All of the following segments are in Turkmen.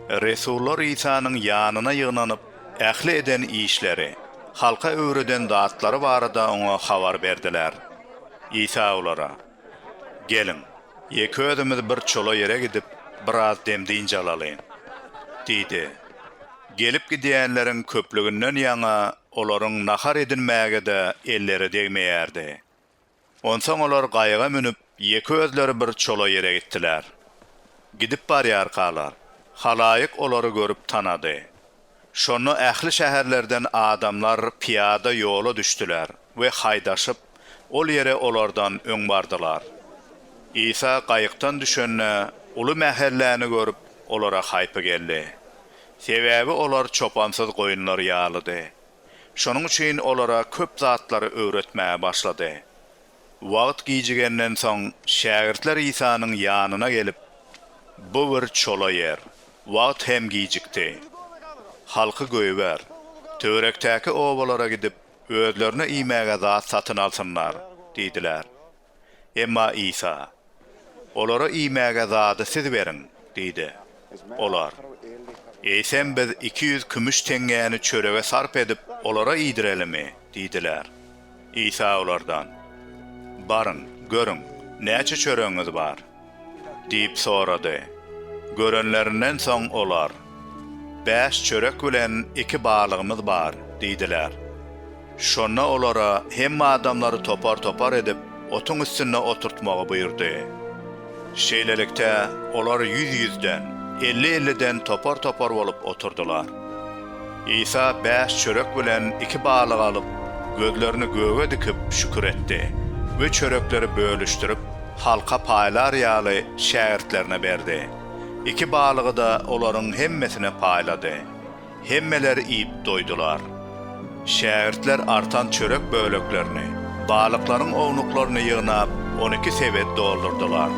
Resullar Isanyň ýanyna ýygnanyp, ähli eden işleri, halka öwreden zatlary barada oňa habar berdiler. Isa olara, Geliň, ýeke özümiz bir çola ýere gidip, biraz dem-dynç alalyň! diýdi. Gelip gidýänleriň köplüginden ýaňa olaryň nahar edinmäge-de elleri degmeýärdi. Onsoň olar gaýyga münüp, ýeke özleri bir çola ýere gitdiler. Gidip barýarkalar, halaýyk olary görüp tanady. Şonda ähli şäherlerden adamlar pyýada ýola düşdüler we haýdaşyp, ol ýere olardan öň bardylar. Isa gaýykdan düşende, uly mähelläni görüp, olara haýpy geldi. Sebäbi olar çopansyz goýunlar ýalydy. Şonuň üçin olara köp zatlary öwretmäge başlady. Wagt gijigenden soň, şägirtler Isanyň ýanyna gelip, Bu bir çola ýer. Wagt hem gijikdi. Halky goýber. Töwerekdäki obalara gidip, özlerine iýmäge zat satyn alsynlar diýdiler. Emma Isa, Olara iýmäge zady siz beriň! diýdi. Olar, Eýsem biz iki ýüz kümüş teňňäni çörege sarp edip, olara iýdirelimi? diýdiler. Isa olardan, Baryň, görüň, näçe çöregiňiz bar? Diýip sorady. Görenlerinden soň olar, Bäş çörek bilen iki balygymyz bar, diýdiler. Şonda olara hemme adamlary topar-topar edip, otuň üstünde oturtmagy buýurdy. Şeýlelikde, olar ýüz-ýüzden, elli-elliden topar-topar bolup oturdylar. Isa bäş çörek bilen iki balygy alyp, gözlerini göge dikip, şükür etdi we çörekleri bölüşdirip, halka paýlar ýaly, şägirtlerine berdi. Iki balygy-da olaryň hemmesine paýlady. Hemmeler iýip doýdular. Şägirtler artan çörek böleklerini, balyklaryň ownuklaryny ýygnap, on iki sebet doldurdylar.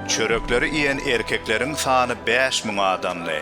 Çörekleri iýen erkekleriň sany bäş müň adamdy.